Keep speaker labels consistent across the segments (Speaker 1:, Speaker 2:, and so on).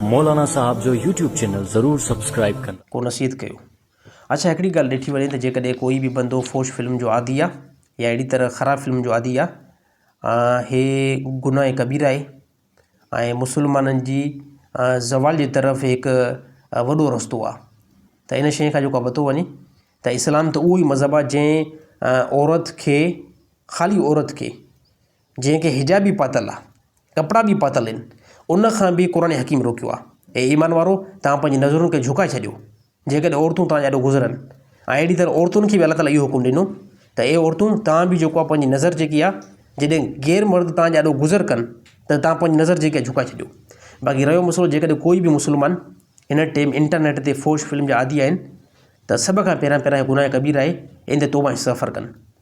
Speaker 1: مولانا صاحب جو YouTube channel ضرور سبسڪرائب ڪندا. ڪو نصيحت ڪيو.
Speaker 2: اڇا هڪڙي ڳالهه ڏٺي وڃي ته جيڪڏهن ڪوئي به بندو فحش فلم جو عادي آ يا اهڙي طرح خراب فلم جو عادي آ هي گناهه ڪبيره آهي ۽ مسلمانن جي زوال جي طرف هڪ وڏو رستو آ ته ان شئي کان جيڪو بتو وڃي ته اسلام ته اهو ئي مذهب آ جنهن عورت کي خالي عورت کي جنهن کي حجاب به پاتل آهي، ڪپڙا به پاتل آهن، ان کان به قرآن حڪيم روڪيو آهي. اي ايمان وارؤ! توهان پنهنجي نظرن کي جهڪائي ڇڏيو، جيڪڏهن عورتون توهان جي آڏو گذرن. ۽ اهڙي طرح عورتن کي به الله تعاليٰ اهو حڪم ڏنو ته اي عورتون! توهان به جيڪو آهي پنهنجي نظر جيڪي آهي جڏهن غير مرد توهان جي آڏو گذر ڪن ته توهان پنهنجي نظر جيڪي آهي جهڪائي ڇڏيو. باقي رهيو مسئلو جيڪڏهن ڪوئي به مسلمان هن ٽيم انٽرنيٽ تي فحش فلم جا عادي آهن ته سڀ کان پهريان پهريان هي گناهه ڪبير آهي، ان تي توبه ۽ استغفار ڪن.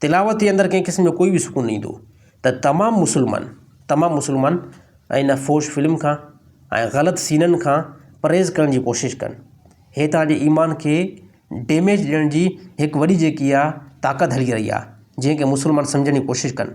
Speaker 2: تلاوت جي اندر ڪنهن قسم جو ڪوئي به سڪون نه ايندو ته تمام مسلمان تمام مسلمان ان فحش فلم کان ۽ غلط سينن کان پرهيز ڪرڻ جي ڪوشش ڪن هي توهان جي ايمان کي ڊيميج ڏيڻ جي هڪ وڏي جيڪي آهي طاقت هلي رهي آهي جنهن کي مسلمان سمجهڻ جي ڪوشش ڪن.